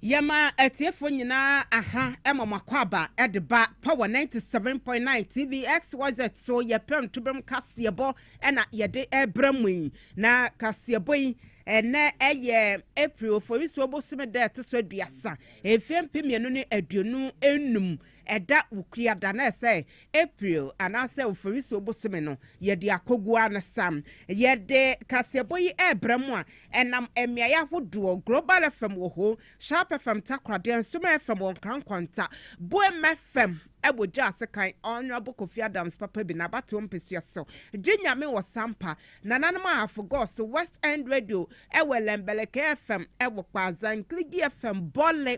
Yɛma atiefo nyinaa aha ma mo akwaaba de ba Power ninety seven point nine TV XYZ so yɛ Prɛmtoberem kaseɛbɔ na yɛde rebrɛ mo yi. Na kaseɛbɔ yi, ɛnnɛ ɛyɛ April Oforisuo bosome da a ɛto so aduasa, mfeɛ mpem mmienu ne aduonu nnum Ɛda Wukia da no a ɛsɛ April anaasɛ Oforisuo bosome no, yɛde akoguo ara no sa. Yɛde kaseɛbɔ yi rebrɛ mo a ɛnam mmeaeɛ ahodoɔ, Global FM wɔ hoo, Sharp FM Takoradi, Nsomaa FM wɔ Nkran Nkwanta, Boem FM wɔ Gyaa Sekan, Honourable Kofi Adams papa bi n'abatoɔ mpesua so, Gye Nyame wɔ Sampa, Nananom Ahafo Gɔɔ so, West End Radio wɔ Lembeleke FM wɔ Kpaadza, Nkligi FM, Bole,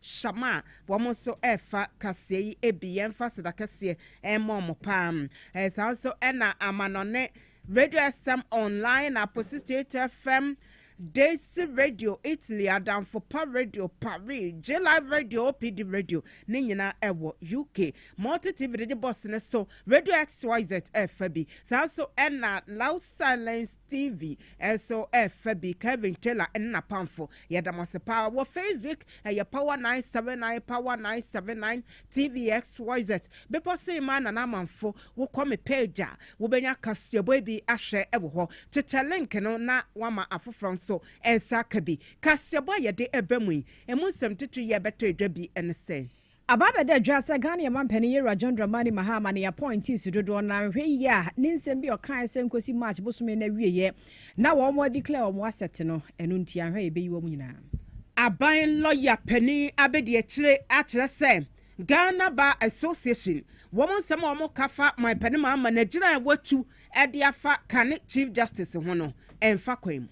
Shama, wɔn nso ɛfa kaseɛ yi bi, yɛmfa Sedakɛseɛ mmɔ wɔn paa. Saa nso na amanɔne Radio SM Online, Apo 68 FM, Daisy Radio, Italy, Adamfo Pa Radio, Paris, J-Live Radio, OPD Radio, ne nyinaa ɛwɔ UK. Multi TV de de bɔs ne so, Radio XYZ ɛfa bi. Saa nso na Loud Silence TV ɛso ɛfa bi, Kevin Taylor ne n'apamfo Yɛda mo ase paa wɔ Facebook ɛyɛ power nine seven nine power nine seven nine TV xyz bepɔ so mmaa nana amanfo wo kɔ me page a wo bɛnya kaseɛbɔ yi bi ahwɛ wɔ hɔ kyekyɛ link no na wama afoforɔ nso nsa aka bi kaseɛbɔ a yɛde ɛbɛ mu yi ɛmu nsɛm titire yi a ɛbɛtɔ edwa bi ɛne sɛ. Aba abɛda adwaa sɛ Ghana yɛ manpanin Yawurah John Dramani Mahama ne appointees dodoɔ no ara nhwɛ yie a ne nsɛm bi a ɔkaeɛ sɛ nkosi March bosome no awieɛ na wɔn a declare wɔn asset no ɛno nti anhwɛ a yɛbɛyi wɔn nyinaa. Aban lɔya panin abɛdi akyire akyerɛ sɛ Ghana Bar Association wɔn nsɛm a wɔka fa manpanin Mahama no agyina a watu de afa kane Chief Justice ho no mfa kwan mu.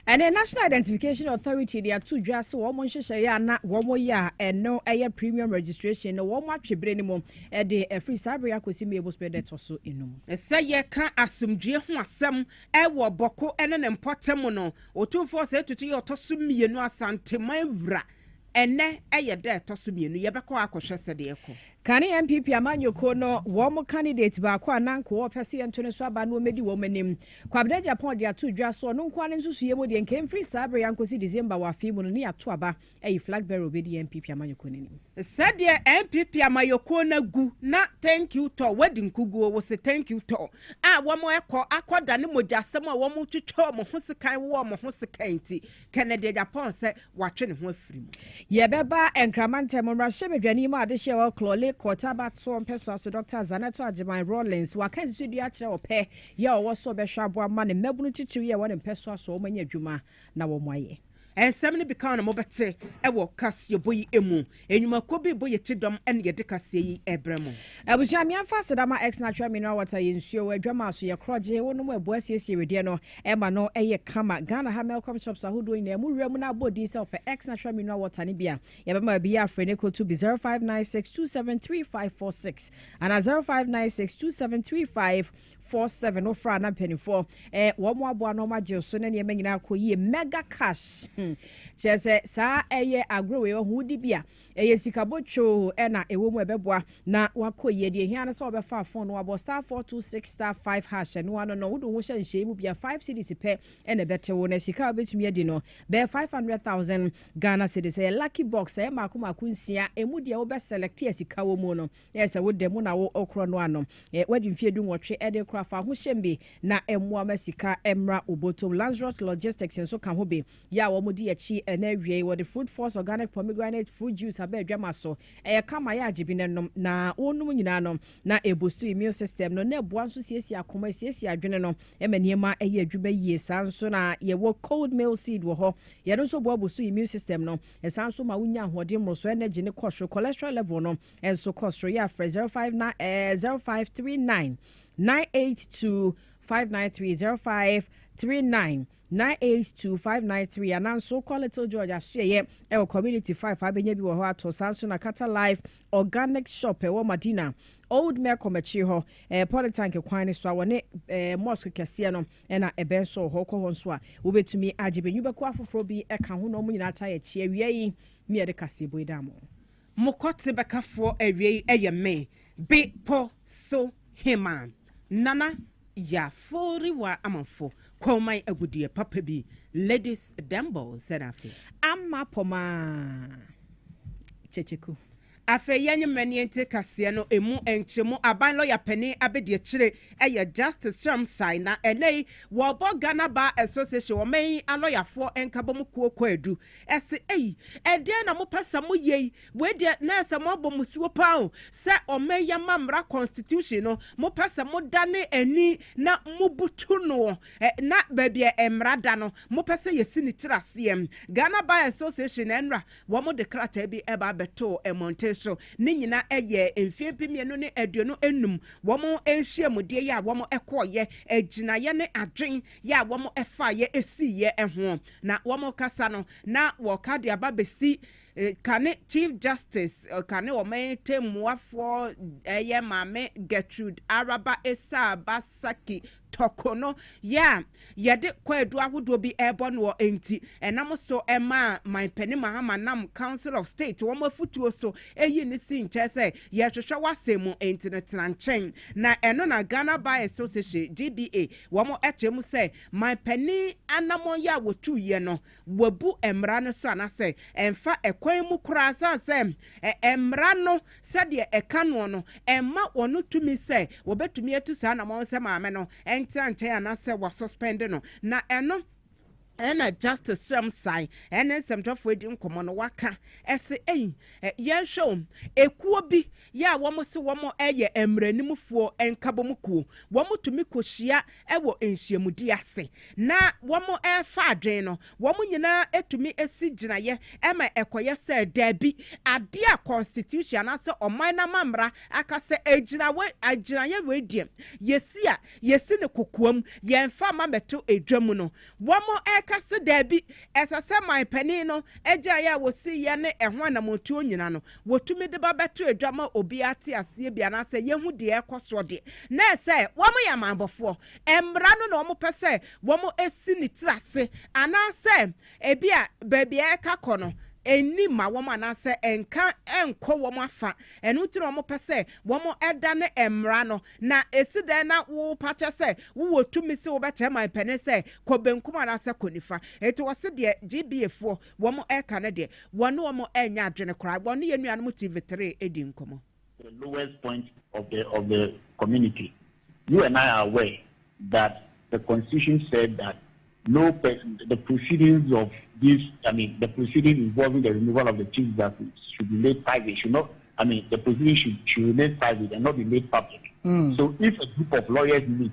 Ɛne National Identification Authority de ato dwa sɛ wɔn nhyehyɛeɛ a na wɔyɛ a ɛno yɛ premium registration no wɔn atwe berɛ no mu de afiri saa berɛ akɔsi May bosomi da ɛtɔ so enum. Sɛ yɛka asomdwoeɛ ho asɛm wɔ Bɔko ne ne mpɔtam no, Otumfoɔ Osei Tutu yɛ ɔtɔ so mmienu Asanteman wura. Ɛnnɛ yɛ da ɛtɔ so mmienu, yɛbɛkɔ akɔhwɛ sɛdeɛ ɛkɔ. Kane NPP amanyɔkuo no wɔn candidate baako a na nka wɔpɛ sɛ yɛnto ne so aba no ɔmmɛdi wɔn anim. Kwabena Agyapong de ato dwa sɛ ɔno nko ara ne nsusuiɛ mu deɛ nka ɛmfiri saa berɛ yi ankɔsi December wɔ afe yi mu no ne yɛato aba ayi flag bearer a ɔbɛdi NPP amanyɔkuo no anim. Sɛdeɛ NPP amanyɔkuo no agu na thank you tɔ wɔadi nkuguo wo se thank you tɔ a wɔn ɛkɔ akɔdane mogyasɛm a wɔn twetwe wɔn ho sekan wo wɔn ho sekan nti Kennedy Agyapong sɛ watwe ne ho afiri mu. Yɛbɛba Nkraman Ntam mmarahyɛbadwani mu adehyeɛ wɔ Klole Court abatoɔ mpɛsoa so Dɔkta Zaneto Agyeman Rawlings waka nsisodua akyerɛ ɔpɛ yɛ a ɔwɔ sɛ ɔbɛhwɛ aboa ma ne mmabunu titiriw yɛ wɔ ne mpɛsoa so a wɔanya adwuma na wɔayɛ. Nsɛm no bi ka na mobɛte wɔ kaseɛbɔ yi mu. Enwumakuo bi bɔ yɛ ti dɔm ɛna yɛde kaseɛ yi ɛbrɛ mo. Abusua me ɛmfa aseda ma X natural mineral water yɛ nsuo adwama so yɛ krɔgye wo nom ɛboa siesie wedeɛ no ɛma no ɛyɛ kama Ghana ha Melcom shops ahodoɔ nyinaa mu wura mu na abɔ din sɛ ɔpɛ X natural mineral water no bi a yɛbɛma obi yɛ afrɛ ne kɔtu bi 0596273546 ana 0596273546. four seven no fra na mpanimfoɔ eh, wɔn mo aboa na wɔn agye so na nneɛma nyinaa kɔ yie mega cash hmm. kyerɛ sɛ saa ɛyɛ agorɔ wei ɔho di bi a ɛyɛ sika botwoo ɛna ɛwɔ mu ɛbɛboa na wakɔ yie deɛ hia no sɛ wɔbɛfa fon no wabɔ star four two six star five hash ɛno ano no wode ho hyɛ nhyɛn mu bia five cities pɛ ɛna ɛbɛte wo na sika a wobɛtumi adi no bɛyɛ five hundred thousand Ghana cities ɛyɛ lucky box ɛyɛ mako mako nsia ɛmu deɛ wobɛ select a sika wɔ mu no Ɛyɛ sɛ wo dɛ mu na wo korɔ no ano. Ɛ, woadi mfeɛ du nwɔtwe de rekorɔ a, fa ahohyem bi na mmoa ma sika mmra wo bɔtɔm. Lanzrot Logistics nso ka ho bi. Yɛ a wɔdi akyi na awiei wɔde Food Force Organic Pomegranate Fruit Juice aba adwama so. Ɛyɛ kama, yɛ a gye bi na nom. Na wonom nyinaa no, na ɛbusu immune system no, na ɛboa nso siesie akoma, ɛsiesie adwene no, ɛma nneɛma yɛ adwuma yie. Saa ara nso na yɛwɔ Cold Meal Seed wɔ hɔ. Yɛ no nso boa busu immune system no. Ɛsan nso ma wonya ahoɔden, mmorosoɔ, energy, no kɔ soro. Cholesterol level no Nso kɔ soro yɛ afrɛ 059 eh, 0539 982 593 0539 982 593 ananso kɔ Little George asoɛyɛ ɛwɔ community 5 abɛnya bi wɔ hɔ atɔ saa nso na Kata Life Organic Shop ɛwɔ Madina Old Mecom akyiri hɔ eh, Polytank kwan no so a wɔne eh, mosque kɛseɛ no ɛna ɛbɛn so wɔ hɔ kɔ hɔ nso a wobɛtumi agye bɛnwubɛko afoforɔ bi ɛka ho na ɔmo nyinaa taa yɛ kyeɛ awia yi ne yɛde kaseɛbɔ yi da mo Mo kɔte bɛkafoɔ awiei yɛ me, Be po so Heman. Nana Yafori wa Amanfo kɔnman agudeɛ papa bi, Ladies Dembow sɛn afe? Amma Pomaa Kyekyeku. Afei yɛnye mmanin nte kaseɛ no emu nkyemu, Aban Lɔya Panin abɛdiakyire yɛ Justice Sram Sae na ɛnɛ yi wɔrebɔ Ghana Bar Association ɔman yi alɔyafoɔ nkabɔmu kuo kwaadu Ɛse, Ei, ɛdeɛn na mopɛ sɛ moyɛ yi? Wei deɛ, na ɛyɛ sɛ moabɔ mmusuo pa ara o, sɛ ɔman yi amammra, constitution, no, mopɛ sɛ modane ani na mobutu noɔ, ɛ, na baabi a mmara da no, mopɛ sɛ yɛsi ne tiri aseɛ. Ghana Bar Association, nnora, wɔde krataa bi ba bɛtoo mmɔnten so. Ne nyinaa ɛyɛɛ mfeɛ mpem mmienu ne aduonu nnum wɔn nhyiamudeɛ yi a wɔkɔeɛ, gyinaeɛ ne adwen yɛ a wɔfaaeɛ siiɛ ho. Na wɔn rekasa no, na wɔreka de aba abɛsi kane Chief Justice, kane ɔman tɛmmuafoɔ ɛyɛ Maame Gertrude Araba Esaa Basaki Tɔko no yɛ a yɛde kwaadu ahodoɔ bi rebɔ noɔ nti, ɛnam so maa Manpanin Mahama nam Council of State wɔn afutuo so yii no sii nkyɛn sɛ yɛrehwehwɛ wo asɛm mu nti no tena nkyɛn. Na ɛno na Ghana Bar Association, GBA, wɔn kyerɛ mu sɛ Man panin anamɔn yɛ a wɔtuu yɛ no, wabu mmara no so anasɛ ɛmfa ɛkwan mu koraa sane sɛ mmara no sɛdeɛ ɛka noɔ no mma ɔno tumi sɛ wɔbɛtumi atu saa anamɔn no sɛ maame no ntena nkyɛn anasɛ wa suspend no na ɛno ɛna Justice Sram Sae ɛne nsɛmtwerɛfoɔ adi nkɔmmɔ no waka ɛse ei yɛnhwɛ o ekuo bi yɛ a wɔse wɔyɛ mmaranimfoɔ nkabom kuo, wɔtumi kɔhyia wɔ nhyiamudie ase na wɔrefa adwene no, wɔn nyinaa tumi si gyinaeɛ ma ɛkɔyɛ sɛ daabi, adeɛ a Constitution anaasɛ ɔman no amammara aka sɛ ɛgyina wei, gyinaeɛ wei deɛ yɛsi a yɛsi no kokoam, yɛmfa mma mmɛto dwa mu no, wɔka sɛ daabi, ɛsɛ sɛ manpanin no gyinaeɛ a wɔsiiɛ ne ɛho anammɔntuo nnyina no. wɔtumi de ba bɛto adwa ma obiara te aseɛ bi anaasɛ yɛhu deɛ ɛrekɔ soɔ deɛ, na ɛyɛ sɛ wɔyɛ amanbɔfoɔ. Mmara no na wɔpɛ sɛ wɔsi ne tiri ase, anaasɛ ebia baabi a ɛreka kɔ no nni mma wɔn anaasɛ ɛnka nkɔ wɔn afa. Ɛno nti na wɔpɛ sɛ wɔdane mmara no. Na ɛsi dɛn na wopa kyɛ sɛ wowɔ tumi sɛ wobɛkyerɛ manpanin sɛ kɔ benkum anaasɛ kɔ nifa? Enti wɔse deɛ GBAfoɔ Wɔn ɛka no deɛ wɔne wɔn ɛnyɛ adwene koraa. Wɔne yɛn nuanom TV three ɛdi nkɔmɔ. the lowest point of the of the community you and I are aware that the constitution said that no person the proceedings of this I mean the proceeding involving the removal of the chief justice should be made private should not I mean the proceeding should should remain private and not be made public mm. so if a group of lawyers meet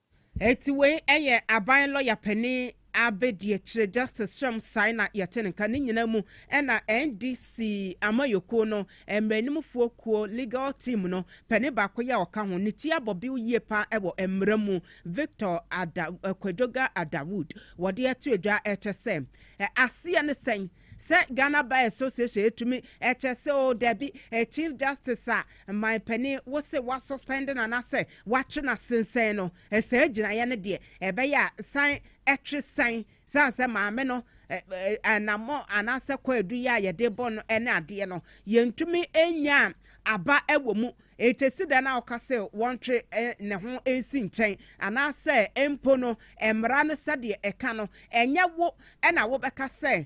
Enti wei yɛ aban lɔya panin abɛdiakyire Justice Shem Sae na yɛte ne nka. Ne nyinaa mu na NDC amanyɔkuo no mmaraninmufoɔ kuo, legal team, no panin baako yi a ɔka ho, ne ti abɔ bew yie pa ara wɔ mmara mu, Victor Ada Kwadwoga Adawood, wɔde ato adwa kyɛ sɛ aseɛ ne sɛn sɛ Ghana Bar Association tumi kyɛ sɛ oo dabi Chief Justice a Mmae panin, wo se wa suspend no anasɛ watwe no asensɛn no, saa gyinaeɛ no deɛ ɛbɛyɛ a san twe san, sane sɛ maame no anamɔ anasɛ kwaadu yi a yɛde bɔ no ne adeɛ no yɛntumi nyaa aba wɔ mu, enti ɛsi dɛn na woka se wɔntwe ne ho nsi nkyɛn, anasɛ mpo no mmara no sɛdeɛ ɛka no ɛnyɛ wo na wobɛka sɛ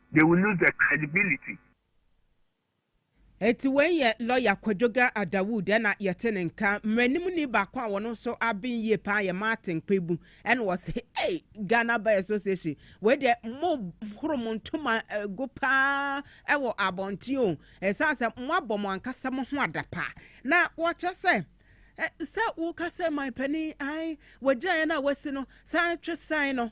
They will lose their credibility. Enti wei yɛ lɔya Kwadwoga Dawood ɛna yɛte ne nka. Mmaranimni baako a ɔno nso aben yie paa yɛ Martin Kpebu ɛna ɔse ei Ghana Bar Association wei deɛ mo horo mo ntoma gu paa ɛwɔ abɔnten o ɛsiane sɛ mo abɔ mo ankasa mo ho adapa na wɔkyɛ sɛ sɛ woka sɛ man panin ae wagyaeɛ no a wasi no san twe san no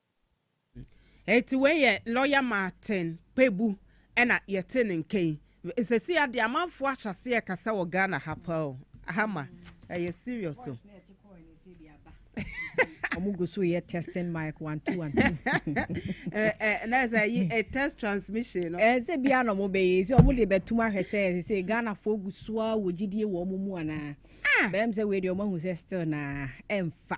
Eti wei yɛ lɔya Martin Kpebu na yɛtee ne nka yi. Sesei ara deɛ amanfoɔ ahyɛ aseɛ rekasa wɔ Ghana ha paa o. Aha ma ɛyɛ serious o. Ɔmo gu so yɛ testing mic one two one two. Ɛɛ na sɛ yi ɛ test transmission no. Ɛɛ sɛ bia na ɔmo bɛyɛ yi sɛ ɔmo de bɛtum ahwɛ sɛ sɛ Ghanafoɔ gu so ara wɔ gyidie wɔ ɔmo mu anaa. Ah! Bɛyɛ me sɛ wei deɛ ɔmo ahu sɛ still naa ɛmfa.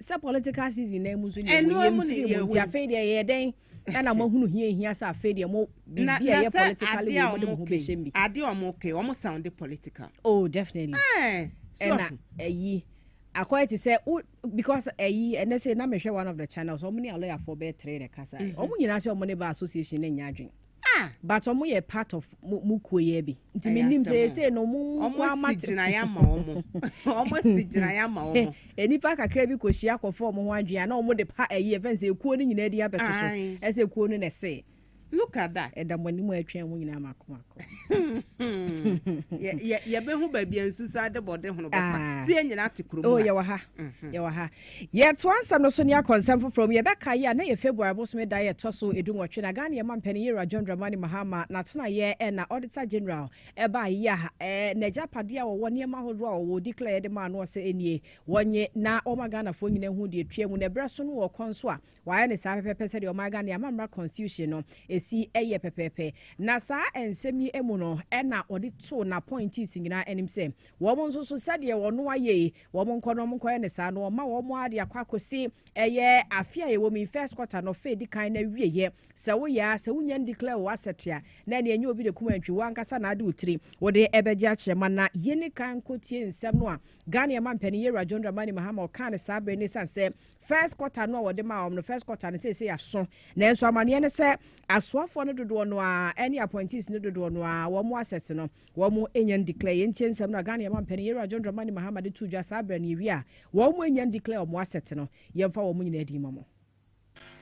sɛ political season na mu nso deɛ mo yɛ mfiri mu nti afei deɛ yɛ dɛn ɛna mo ahunu hia hia sɛ afei deɛ mo biribi a yɛ political wei mo de mo ho bɛhyɛ mu bi. adeɛ a wɔn kɛ wɔn sound political. oh definitely. ɛɛ ɛna ɛyi akɔyɛ te sɛ wo because ɛyi ɛnɛ sɛ na mehwɛ one of the channels wɔn ne alɔyafoɔ bɛɛ tere na kasa wɔn nyinaa sɛ wɔn ne ba association ne nya adwene. Ah! But ɔmo yɛ part of mo mo kuo yɛ bi nti me nim sɛ yɛ sei no ɔmo mu nko ara mate. Ɔmo si gyinaeɛ ama ɔmo. Ɔmo si gyinaeɛ ama ɔmo. Nnipa kakra bi kɔ hyia kɔ fa ɔmo ho adwene a na ɔmo de pa ɛyi yɛfrɛ no sɛ ekuo no nyinaa din abɛto so ɛsɛ ekuo no na ɛsee. Look at that. Ɛda mo anim a ɛtwɛn mo nyinaa mako mako. Yɛ yɛ yɛbɛhu baabi a nsusu adebɔde hono bɛfa. Ah. Sɛ yɛn nyinaa te kurom ha. Oh yɛwɔ ha. Yɛwɔ ha. Yɛtoa nsɛm no so na yɛakɔ nsɛm foforɔ mu. Yɛbɛkae a, na ɛyɛ February bosome da a ɛtɔ so dunwɔtwe, na Ghana Yɛma Mpanin Yɛwura John Dramani Mahama n'atenaeɛ na Auditor General baeɛ a n'agyapadeɛ a wɔwɔ, nneɛma ahodoɔ a wɔwɔ, ɔdi kleeɛ de maa no, ɔsɛ nie, wɔnnye na wɔma Ghanafoɔ nyinaa hu deɛ ɛtua mu, na ɛberɛ so no wɔrekɔ nso a, Wɔayɛ no saa pɛpɛɛpɛ sɛdeɛ ɔman Ghana amammra constitution no ɛsi yɛ pɛpɛɛpɛ. Na saa nsɛm yi mu no na ɔde too n'appointees nyinaa anim sɛ wɔn nso so sɛdeɛ ɔno ayɛ yi wɔn nkɔ na wɔn nkɔyɛ no saa na wɔma wɔn ara de akɔ akɔsi ɛyɛ afe a yɛwɔ mu yi first quarter no ɔfɛ di kan na awieɛ sɛ woyɛ a sɛ wonya ndeclare wo asset a na ɛne ɛnyɛ obi de kum antwi wo ankasa na ade wo tiri wode ɛbɛgye akyerɛ ma na yɛni kan nkɔtie nsɛm no a Ghana ɛma mpanin Yɛwura John Dramani Mahama ɔkaa no saa berɛ no ɛsiane sɛ First quarter no a wɔde maa wɔn no, first quarter no seesei aso, nanso amaneɛ ne sɛ asoafoɔ no dodoɔ no ara ɛne appointees no dodoɔ no ara wɔn assets no wɔn enya declare. Yɛn tie nsɛm no a Ghana yɛn mampanin Yɛrua John Dramani Mahama de too dwa saa berɛ no yɛwie a wɔn enya declare wɔn assets no. Yɛmfa wɔn nyinaa din ma mo.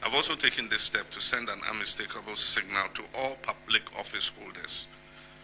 I've also taken this step to send an unmistakable signal to all public office holders.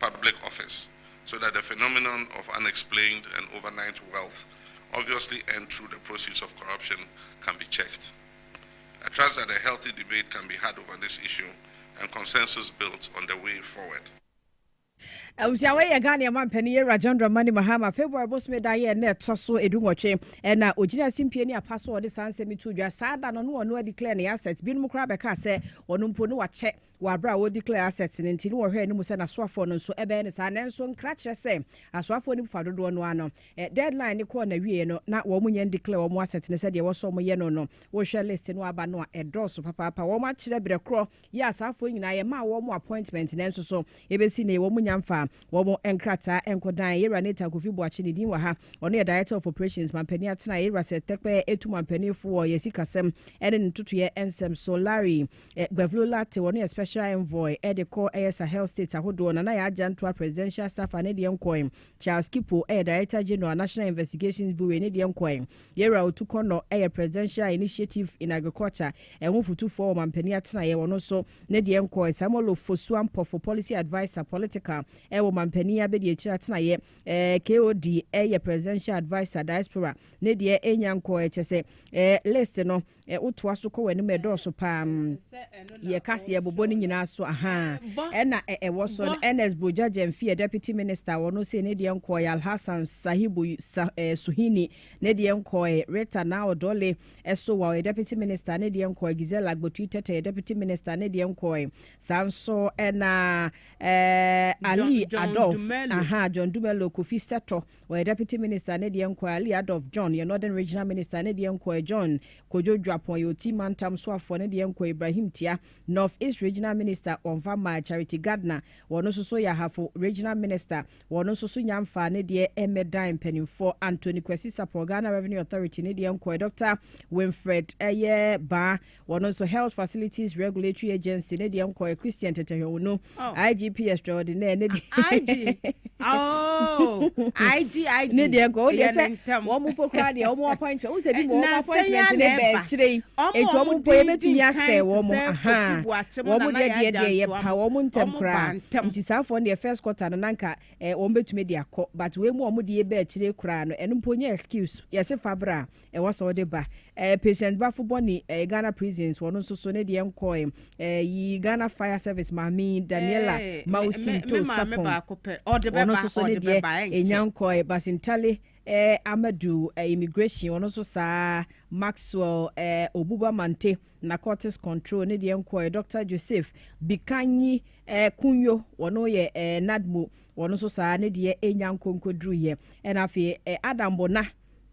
Public Office so that the phenomenon of unexplained and overnight wealth obviously earned through the proceeds of corruption can be checked. I trust that a healthy debate can be had over this issue and consensus built on the way forward. Abusua wei yɛ Ghana ɛma mpanin yɛ Rajon Dramani Mahama February bosome da yɛ ɛna ɛtɔ so edu nwɔtwe ɛna ogyina asimpie ne apa so ɔde saa nsɛm yi to dwa saa da no no ɔno declare ne asset binom koraa bɛka sɛ ɔno mpo no wakyɛ Wɔ bere a wɔ declare assets no nti no wɔhwɛɛ no mu sɛ n'asoafoɔ no nso bɛyɛ no saa, nanso nkra kyerɛ sɛ asoafoɔ no mu fa dodoɔ no ara no deadline no kɔɔ n'awieɛ no na wɔn nyɛ ndeclare wɔn assets no sɛdeɛ ɛwɔ sɛ wɔyɛ no no. Wohwɛ list no a aba no a ɛdɔɔso papaapa, wɔn akyerɛ berɛ korɔ yɛ asaafoɔ nyinaa, yɛmaa wɔn appointment nanso so ɛbɛsi nnɛ yi wɔn nnya mfaa wɔn nkrataa nkɔ dan. Yɛwura Nathan Kofi Boakye ne din wɔ ha, ɔno yɛ Director of Operations Mampanin Atenaeɛ, Yɛwura Seth Tekpɛɛ tu mampaninfoɔ wɔ yɛn sikasɛm ne ne ntotoeɛ nsɛm so, Larry Gbavlo Latte, ɔno yɛ Special Envoy de kɔ ɛyɛ Sahel States ahodoɔ, Nana Yaa Jantua, Presidential Staffer, ne deɛ nkɔe, Charles Kipo, ɛyɛ Director General, National Investigations Bureau, ne deɛ nkɔe, Yerah Otu Kɔnnɔ, ɛyɛ Presidential Initiative in Agriculture, ɛho fotufoɔ wɔ mampanin atenaeɛ, ɔno nso, ne deɛ nkɔe, Samuel Ofosu Ampofo, Policy Adviser, Political, ɛwɔ mampanin abɛdiakyire atenaeɛ, ɛɛ KOD, ɛyɛ Presidential Adviser, Diaspora, ne deɛ ɛnnya nkɔe, kyerɛ sɛ, ɛɛ list no, Ɛ wo toa so kɔ w'anim ɛdɔɔso paa mm yɛ ka se ɛbobɔ ne nyinaa so ahaa ɛna ɛ ɛwɔ so no Ernest Bogya Gyamfi ɛ Deputy Minister wɔ no sei ne deɛ nkɔɔ ɛ Alhassan Sahibu sa ɛ Suhini ne deɛ nkɔɔ ɛ Rita Naa Odole ɛ Sowa ɔyɛ Deputy Minister ne deɛ nkɔɔ ɛ Giselle Agbotui Tete ɔyɛ Deputy Minister ne deɛ nkɔɔ ɛ saa nso ɛna ɛ Ali Adolf ahaa John Dumelo Kofi Sɛtɔ Ɔyɛ Deputy Minister ne deɛ nkoa Ali Adolf John yɛ Northern Regional Minister ne deɛ nkoa John Kojo Juapon yɛ Oti Mantam Soafoɔ ne deɛ nkoa Ibrahim Tia North East Regional Minister wɔnfa mmaa Charity Gardner wɔn nso so yɛ Ahafo Regional Minister wɔn nso so nya mfaa ne deɛ mmɛdan mpanimfoɔ Anthony Kwesi Sapor Ghana Revenue Authority ne deɛ nkoa Doctor Winfred yɛ baa Wɔno nso Health Facilities Regulatory Agency ne deɛ nkɔɛ Christian Tetehwɛwunu oh. IGP Extraordinaire ne deɛ IG oh IG IG ne deɛ nkɔ wodeɛ sɛ wɔn mu po koraa deɛ wɔn appoint wɔn sɛ bi mu wɔn appointment ne bɛɛ akyire yi eti wɔn po ebetumi asɛ wɔn mo ahan wɔn deɛ deɛ deɛ yɛ pa wɔn mo ntɛm koraa nti saa afɔ deɛ first quarter no nanka ɛɛ eh, wɔn betumi de akɔ but wɔn mu wɔn deɛ bɛɛ akyire koraa no ɛno mpo nye excuse yɛsi fabra Ɛwɔ sɛ ɔde ba. Eh, patient bafo bɔne eh, Ghana prisons wɔno nso so ne deɛ nkɔ eh, eh, yi Ghana fire service maame yi Daniela Eh, me, Mausi me, me Nto maame Sapong baako pɛ. Ɔde wɔno bɛba, nso so ne ɔde deɛ bɛba, ɛnkyɛ. enya nkɔ eh, Basintale eh, Amadu eh, immigration wɔno nso saa Maxwell eh, Obuba Mante narcotics control ne deɛ nkɔ eh, Doctor Joseph Bikanyi eh, Kunyo wɔno yɛ eh, NADMO wɔno nso saa ne deɛ enya nkɔ nkɔduruyɛ ɛna afei eh, Adam Bona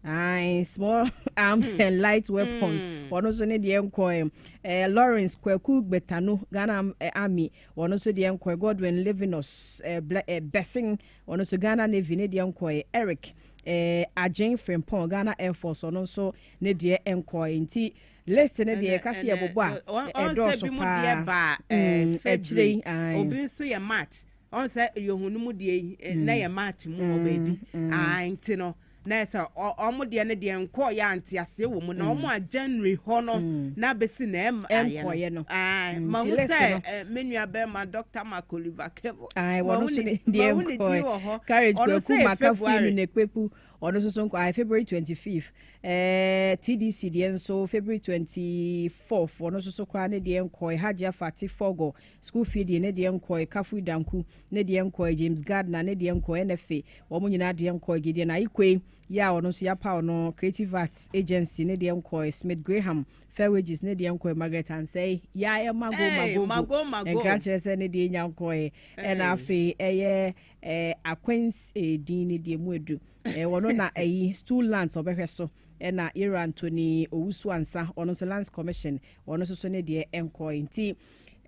Ae, small arms hmm. and light weapons. Hmm. Wɔn nso ne deɛ nkɔɛ. Eh, Lawrence Kwaku Gbetano, Ghana eh, Army. Wɔn nso deɛ nkɔɛ. Godwin Livinus eh, Ble- eh, Bessing. Wɔn nso Ghana Navy ne deɛ nkɔɛ. Eric eh, Agyen Frimpong, Ghana Air Force. Wɔn nso ne deɛ nkɔɛ. Nti list ne deɛ ɛka se yɛbobɔ a ɛdɔɔso paa. Ɛkyerɛ yi. Obi nso yɛ match. ɔn sɛ yɛhu no mu deɛ yi eh, na mm. yɛ match mu wɔ mm, baabi mm. aa nti no na ɛsɛ ɔmo deɛ no deɛ nkɔɔ yɛ anteaseɛ wɔ mu na ɔmo a january hɔ no na bɛsi na ɛm ayɛ no ma hu sɛ eh, me nua bɛrima dr marco livakebo ma hu ne din wɔ hɔ ɔno sɛ february ɔno nso so nkɔ ayɛ february twenty fifth ɛɛ tdc deɛ nso february twenty fourth ɔno nso so koraa ne deɛ nkɔ ɛhagye afa ti fɔgɔ School fee deɛ ne deɛ nkɔɔɛ, Kafui Danku ne deɛ nkɔɔɛ, James Gardner ne deɛ nkɔɔɛ, NFA wɔn nyinaa deɛ nkɔɔɛ, Gideon Ayikoe yi a ɔno nso yɛapaw no, Creative Arts Agency ne deɛ nkɔɔɛ, Smith Graham, Fair Wages ne deɛ nkɔɔɛ, Margaret Ansay yi a ɛyɛ Mago Mago Go Nkrankyerɛ sɛ ne deɛ nya nkɔɔɛ, ɛna afei ɛyɛ eh, Aquins Edin ne deɛ mu adu, eh, wɔno na ɛyi Stool Lands ɔbɛhwɛ so, ɛna Yero Anthony Owusu-Ansah ɔno nso Lands Commission wɔno nso so ne deɛ nkɔɔɛ nti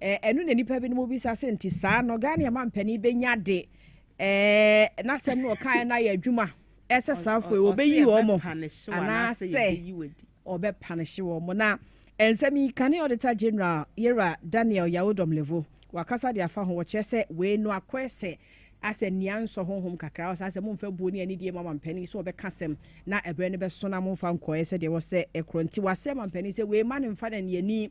Eh, ɛno na nipa binom bisa sɛ nti saa no Ghana ɛma mpanin bɛnya de eh, n'asɛm no ɔkaeɛ no ayɛ adwuma ɛsɛ saafo yi wɔbɛyi wɔn mo anaasɛ ɔbɛpanehye wɔn mo na nsɛm yi kane auditor general yɛwura daniel yawodɔm levo wakasa de afa ho wɔkyerɛ sɛ wei no akɔɛ sɛ asɛ nea nsɔ honhom kakra ɔsɛ asɛ momfa buo ne anidie ma mampanin sɛ wɔbɛka sɛm na ɛberɛ no bɛso na momfa nkɔɛ sɛdeɛ wɔ sɛ ɛkorɔ nti wɔasɛ mampanin sɛ wei ma no mfa no aniani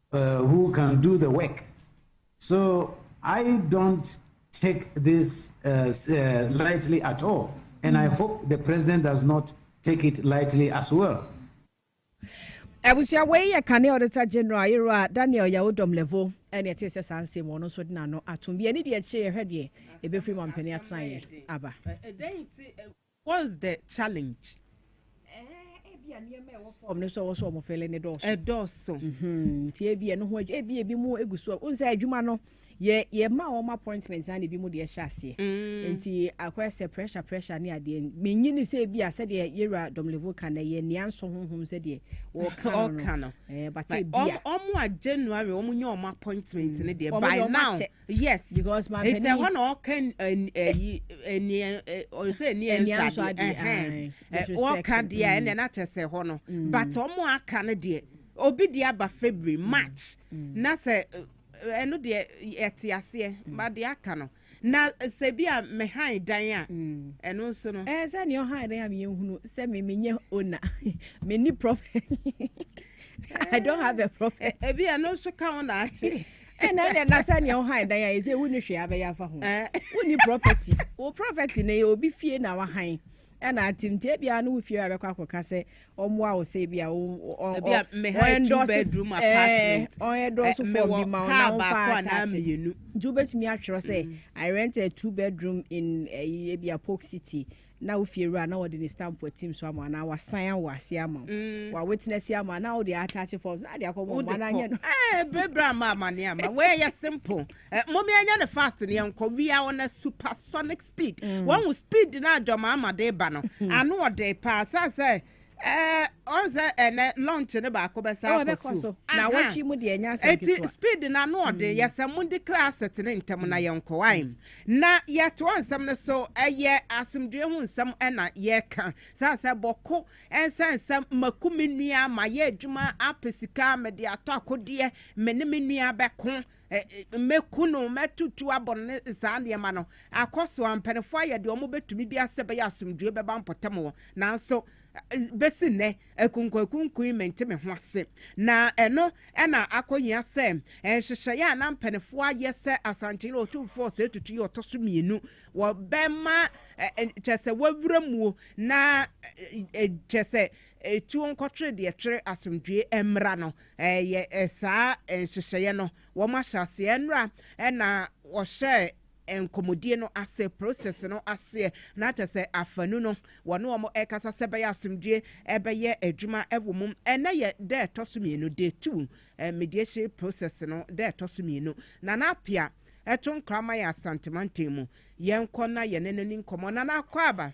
who can do the work so I don't take this lightly at all and I hope the president does not take it lightly as well. abusua wei yɛ kane auditor general yerewa daniel yawodɔm levo ɛne ɛte sɛ saa nsɛm wɔn nso de n'ano atom bi ɛne deɛ akyire yɛhwɛ deɛ ɛbɛfiri mampani atenaeɛ aba What's the challenge? Eh, ebi a nneɛma a ɛwɔ fam no sɛ wɔsɔ wɔn fɛlɛ ne dɔɔso. Ɛdɔɔso. Mhm. Nti ebi ɛno ho adwuma ebi ebi mu egu so. N sɛ adwuma no yɛ yɛ ma wɔn appointment na ebi mu deɛ ɛhyɛ aseɛ. Mm. Nti akɔyɛ sɛ pressure pressure ne adeɛ. Menyi ne sɛ ebi a sɛdeɛ yɛwura Domlevo ka no yɛ nea nsɔ honhom sɛdeɛ wɔka no no. Ɛɛ bate ebi a. Wɔn a January wɔn nyɛ wɔn appointment ne deɛ by now. yes because my penny ɛhɔ na ɔka ɛyi ɛni ɔsɛ ɛni ɛnso adeɛ ɛhɛn ɔka deɛ a ɛna ɛna kyɛ sɛ hɔ no but ɔmo aka no deɛ obi deɛ aba february mm. march mm. na sɛ ɛno deɛ ɛte aseɛ mm. ba deɛ aka no na sɛ bi a mehan dan a ɛno nso no. ɛɛ sɛ nea ɔhan dan a meyɛ hunu sɛ me menyɛ ona me ni property i don't have a property. ebi ɛno nso ka ho na ate. ɛna ɛna ɛna sɛ nea ɔhan dan ayɛ sɛ wonni hwee abɛyɛ afa ho wonni property wo property no yɛ obi fie na wahan ɛna atim nti ebia no wo fie abɛkɔ akɔka sɛ ɔmmoa wo sɛ ebia ɔndɔse ɔndɔse fɔm bi ma ɔna ɔmfa atakye nti wobɛtumi atwerɛ sɛ i rent a two bedroom in eh, ebia polk city na wo fiewura na wɔde ne stamp atim so ama anaa wasan awo ase ama wo mm. wa witness ama na wode attach forms na de akɔ mo ma na nyɛ no eh bebra ama amane ama wei yɛ simple eh, mom yɛnyɛ ne fast ne yɛnkɔ we are on a supersonic speed mm. wɔn speed na adwama ama de ba no ano ɔde paa sɛ sɛ Ɛɛ ɔn sɛ ɛnɛ lunch no baako bɛsan akɔ sukuu. Ɛbɛkɔ so. Naawɔtwe mu deɛ ɛnyɛ asɛm ketewa. Eti speed no ano ɔden. Yɛ sɛ mo ndi kra aset no ntɛm na yɛ nkɔ wae. Na yɛ toa nsɛm no so. Ɛyɛ asomdwoe ho nsɛm na yɛ ka. Saa sɛ bɔko ɛnsan sɛ maku me nua, mayɛ adwuma apɛ sika, mede atɔ akodeɛ, me ne me nua bɛko. Mɛku no, mɛtutu abɔ no ne saa nneɛma no. Akɔ so ara, mpanimfoɔ ayɛ deɛ wɔbɛtumi biara sɛ ɛbɛyɛ a asomdwoeɛ bɛba mpɔtam hɔ. Nanso, bɛsi nnɛ, akunkuakunkun yi, mente me ho ase. Na ɛno na akɔhia sɛ nhyehyɛeɛ a na mpanimfoɔ ayɛ sɛ Asantehene Otumfoɔ Osei Tutu yɛ ɔtɔ so mmienu, wɔbɛma kyerɛ sɛ wɔawura muo na kyerɛ sɛ Etuo nkɔtwere deɛ ɛtwere asomdwoeɛ mmra no, ɛyɛ saa nhyehyɛeɛ no wɔn ahyɛaseɛ nnora na wɔhyɛɛ nkɔmɔdie no ase, process no aseɛ, na kyerɛ sɛ afanu no wɔne wɔn ɛkasa sɛ ɛbɛyɛ asomdwoeɛ ɛbɛyɛ adwuma wɔ mu. Ɛnnɛ yɛ da ɛtɔ so mmienu, day two, mediation process no da ɛtɔ so mmienu. Nana Appiah, ɛto nkra ma yɛn Asante Mantam mu, yɛnkɔ na yɛne no ni nkɔmmɔ. Nana Akwaaba.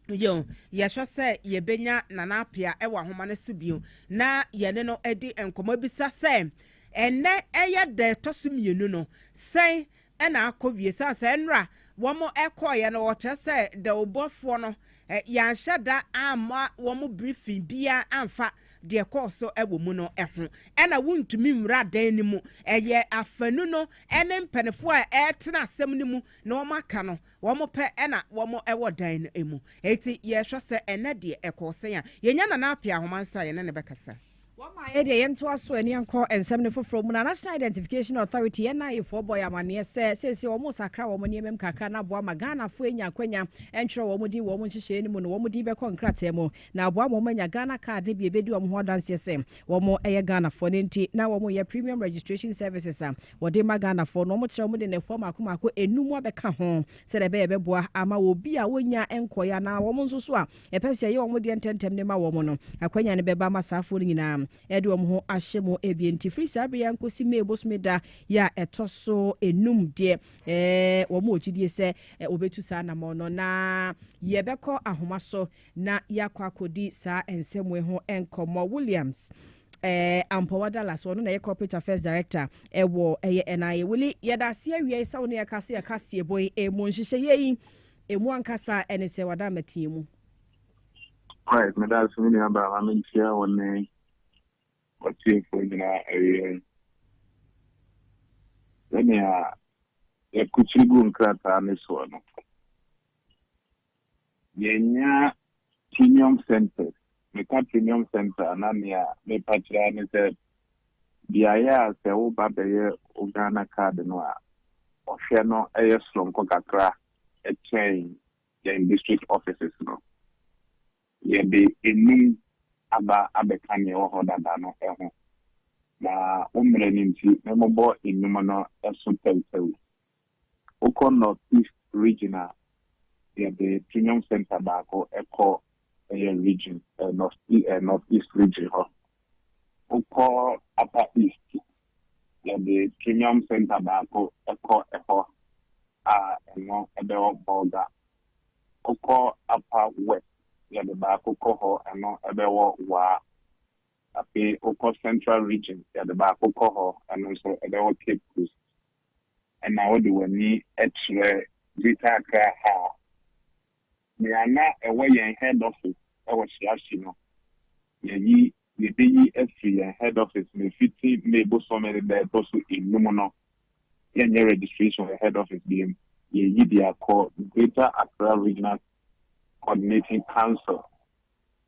Yiw, yɛhwɛ sɛ yebenya Nana Appiah wɔ ahoma no so bio na yɛne no adi nkɔmmɔ abisa sɛ, Ɛnnɛ yɛ da a ɛtɔ so mmienu no, sɛn na akowie? Esiane sɛ nnora wɔkɔeɛ no, wɔkyerɛ sɛ dawurubɔfoɔ no, yɛanhyɛ da amma wɔn briefing biara amfa deɛ ɛkɔɔ so wɔ mu no ho. Ɛnna wontumi nwura dan no mu. Ɛyɛ afanu no ne mpanimfoɔ a ɛretena asɛm no mu na wɔaka no wɔpɛ na wɔwɔ dan no mu. Enti yɛhwɛ sɛ ɛnnɛ deɛ ɛkɔɔ sɛn a, yɛnya Nana Appiah Ahoma nso a yɛne no bɛkasa. Wɔma yɛn deɛ yɛntoa so ani nkɔ nsɛm no foforɔ mu na National Identification Authority, NIA, foɔ bɔ yɛn amaneɛ sɛ seesei wɔresakra wɔn nneɛma mu kakra na aboa ma Ghanafoɔ anya akwanya ntwerɛ wɔn din wɔ wɔn nhyehyɛeɛ no mu no wɔn din bɛkɔ nkrataa mu na aboa ma wɔn anya Ghana card no bi ɛbɛdi wɔn ho adanseɛ sɛ wɔyɛ Ghanafoɔ no nti na wɔyɛ Premium Registration Services a Wɔde ma Ghanafoɔ na wɔkyerɛ wɔn de nnɛfoɔ mmaako mmaako nnum abɛka ho sɛdeɛ ɛbɛyɛ ɛbɛboa ama wɔn bi a wɔnnya nkɔeɛ anaa wɔn nso so a yɛpɛ sɛ yɛyɛ wɔn deɛ ntɛmntɛm de ma wɔn no, akwanya no bɛba ama saa afoɔ no nyinaa de wɔn ho ahyɛ mu. Ebien nti, firi saa berɛ yi ara nkɔsi May bosome da yi a ɛtɔ so nnum deɛ, wɔn wɔ gyidie sɛ wɔbɛtu saa anammɔn no na yɛbɛkɔ ahoma so na yɛakɔ akɔdi saa nsɛm wei ho nkɔmmɔ. Williams. Eh, Ampɔwa Dallas, ɔno na ɛyɛ Corporate Affairs Director ɛwɔ ɛyɛ NIA. Wili, yɛda ase awia yi sɛ wo ne yɛka se ɛka seɛbɔ yi ɛmu nhyehyɛeɛ yi ɛmu ankasa ɛne sɛ wada amateɛ mu. Right, meda ase me nua baa ma menkyia wo ne ɔtiefoɔ nyinaa awia yi. Sɛnea yɛkokyiri gu nkrataa ne soɔ no, Yɛanya Premium Centres. Meka Premium Centre a, na nea merepa kyerɛ ara ne sɛ, beaeɛ a sɛ woba bɛyɛ wo Ghana card no a, ɔhwɛ no yɛ soronko kakra kyɛn yɛn district offices no. Yɛde nnum aba abɛka nea ɛwɔ hɔ dada no ho, na wo mmerɛ no nti, memmobɔ nnum no so tawutawu. Wokɔ North East Region a, yɛde Premium Centre baako kɔ ɛyɛ Region, North East Region hɔ. Wokɔ Upper East, yɛde Premium Centre baako kɔ ɛhɔ a ɛno ɛbɛwɔ Bolga. Wokɔ Upper West, yɛde baako kɔ hɔ, ɛno ɛbɛwɔ Waa. Afei wokɔ Central Region, yɛde baako kɔ hɔ, ɛno nso ɛbɛwɔ Cape Coast. na wode w'ani kyerɛ Greater Accra ha a, nea na ɛwɔ yɛn head office wɔ Shiashi no, yɛayi, yɛbɛyi afiri yɛn head office no fiti May bosome no da a ɛtɔ so nnum no, yɛnyɛ registration wɔ head office biom, yɛyi de akɔ Greater Accra Regional Coordinating Council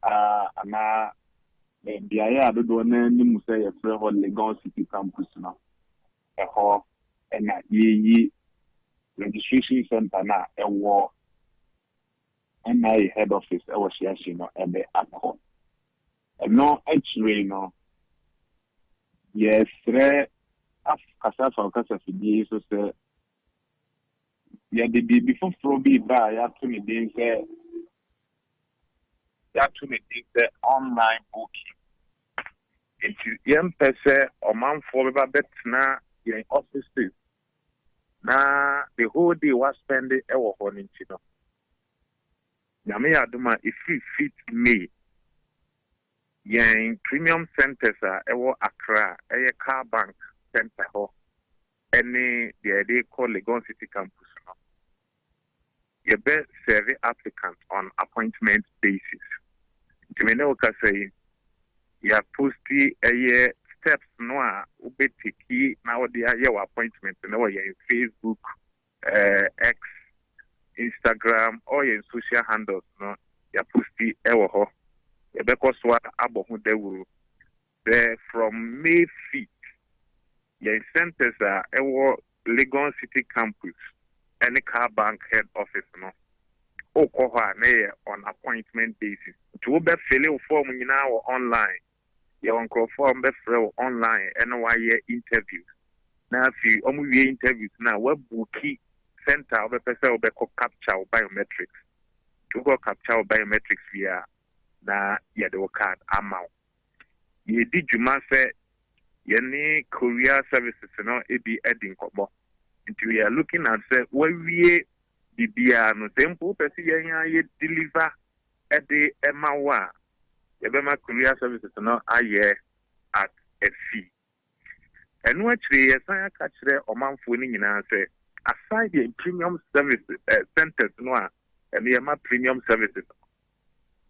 a, anaa beaeɛ a dodoɔ no ara nim sɛ yɛfrɛ hɔ Legon City Campus no. Ɛhɔ na yɛyi registration centre no a ɛwɔ NIA head office wɔ Hyeahye no de akɔ. Ɛno akyire no, yɛresrɛ akasa afa ɔkasafidie yi so sɛ yɛde biribi foforɔ bi reba a yɛato ne din sɛ yɛato ne din sɛ online booking. Enti yɛmpɛ sɛ ɔmanfoɔ bɛba bɛtena yɛn offices na the whole day wɔaspɛnde wɔ hɔ no nti no, Nyame yɛ adom a ɛfiri fifth May, yɛn premium centres a ɛwɔ Accra a ɛyɛ Car Bank Centre hɔ ne deɛ yɛde rekɔ Legon City Campus no, Yɛbɛ serve applicant on appointment basis. Nti me ne wo kasa yi, yɛa posti ɛyɛ steps no a wobɛ teki na wode ayɛ wo appointment no wɔ yɛn Facebook, X, Instagram, all yɛn social handles no yɛa posti ɛwɔ hɔ. Yɛbɛkɔ soa abɔ ho dawuru. Sɛ from May feet, yɛn centres a ɛwɔ Legon City Campus ne Car Bank Head Office no, wokɔ hɔ a na ɛyɛ on appointment basis. Nti wobɛ fille wo form nyinaa wɔ online. Yɛwɔ nkorɔfoɔ a wɔbɛfrɛ wo online ne wo ayɛ interviews. Na afei wɔwie interviews no a, woabuuki centre a wobɛpɛ sɛ wobɛkɔ capture wo biometrics. Nti wokɔ capture wo biometrics wie a, na yɛde wo card ama wo. yɛredi dwuma sɛ yɛne courier services no bi adi nkɔmmɔ. Nti we are looking at sɛ wawie biribiara no, sɛ mpo wopɛ sɛ yɛn ara yɛ deliver de ma wo a, yɛbɛma courier services no ayɛ at a fee. Ɛno akyire yɛsan aka kyerɛ ɔmanfoɔ no nyinaa sɛ, aside yɛn premium services eh, centres no a ɛno yɛma premium services no,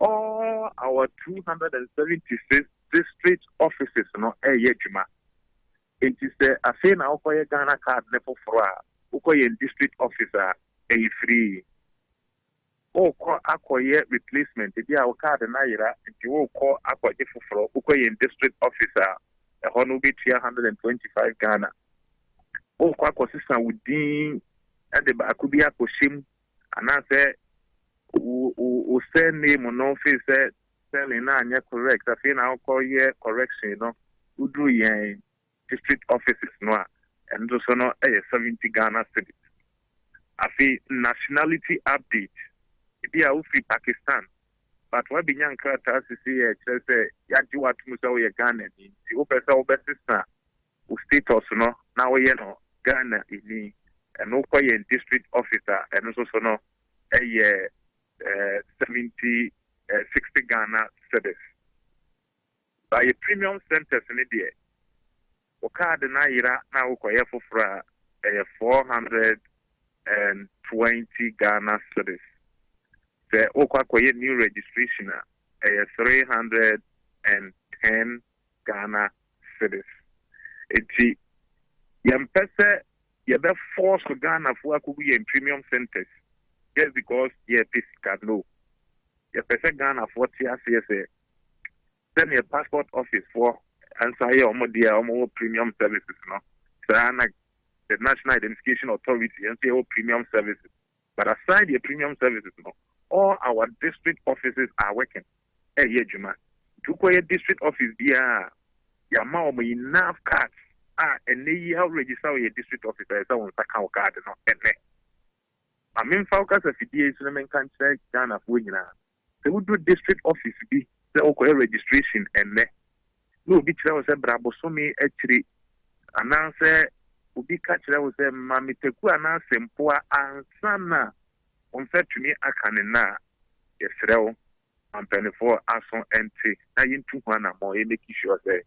all our 276 district offices no ɛyɛ adwuma. Enti sɛ afei na wokɔyɛ Ghana card no foforɔ a, wokɔ yɛn district office a, ɛyɛ free. Worekɔ akɔyɛ replacement, ebi a wo card no ayera nti worekɔ akɔgye foforɔ, wokɔ yɛn district office a, ɛhɔ no wobɛtua hundred and twenty five Ghana. Worekɔ akɔsesa wo din de baako bi akɔhyɛ mu anaasɛ wo wo wo surname no firi sɛ spelling no anyɛ correct afei na wokɔyɛ correction no, woduru yɛn district offices no a ɛno nso no yɛ seventy Ghana cedis. Afei nationality update, ebi a wofiri Pakistan but w'abɛnya nkrataa sesei a ɛkyerɛ sɛ yɛagye wo atom sɛ woyɛ Ghanani nti wopɛ sɛ wobɛsesa wo status no na woyɛ no Ghanani ɛno wokɔ yɛn district office a ɛno nso so no ɛyɛ seventy sixty Ghana cedis. Sɛ ayɛ premium centres no deɛ wo card no ayera na wokɔyɛ foforɔ a ɛyɛ four hundred and twenty Ghana cedis. Sɛ wokɔ akɔyɛ new registration a ɛyɛ three hundred and ten Ghana cedis. Enti yɛmpɛ sɛ yɛbɛ force Ghanafoɔ akɔgu yɛn premium centres just because yɛpɛ sika no. Yɛpɛ sɛ Ghanafoɔ te aseɛ sɛ Sɛdeɛ passport office foɔ nso ayɛ wɔn deɛ a wɔwɔ premium services no, saa na the National Identification Authority yɛn nso yɛwɔ premium services. But aside yɛ premium services no, all our district offices are working ɛyɛ adwuma. Nti wokɔyɛ district office biara a, yɛama wɔn enough cards a ɛnɛ yi a register wɔ yɛ district office a ɛsɛ wɔn nsa ka wo card no ɛnɛ. Ma memfa wo kasafidie yi so na menka nkyerɛ Ghanafoɔ nyinaa. Sɛ wudu district office bi sɛ wokɔyɛ registration nnɛ, na obi kyerɛ wo sɛ bra bosome akyiri, anaasɛ obi ka kyerɛ wo sɛ ma me taku anaa sempoa ansa na wo nsa atumi aka ne nã a, yɛsrɛ wo ma mpaninfoɔ aso nte na yɛntu ho anammɔn, yɛmmeki sure sɛ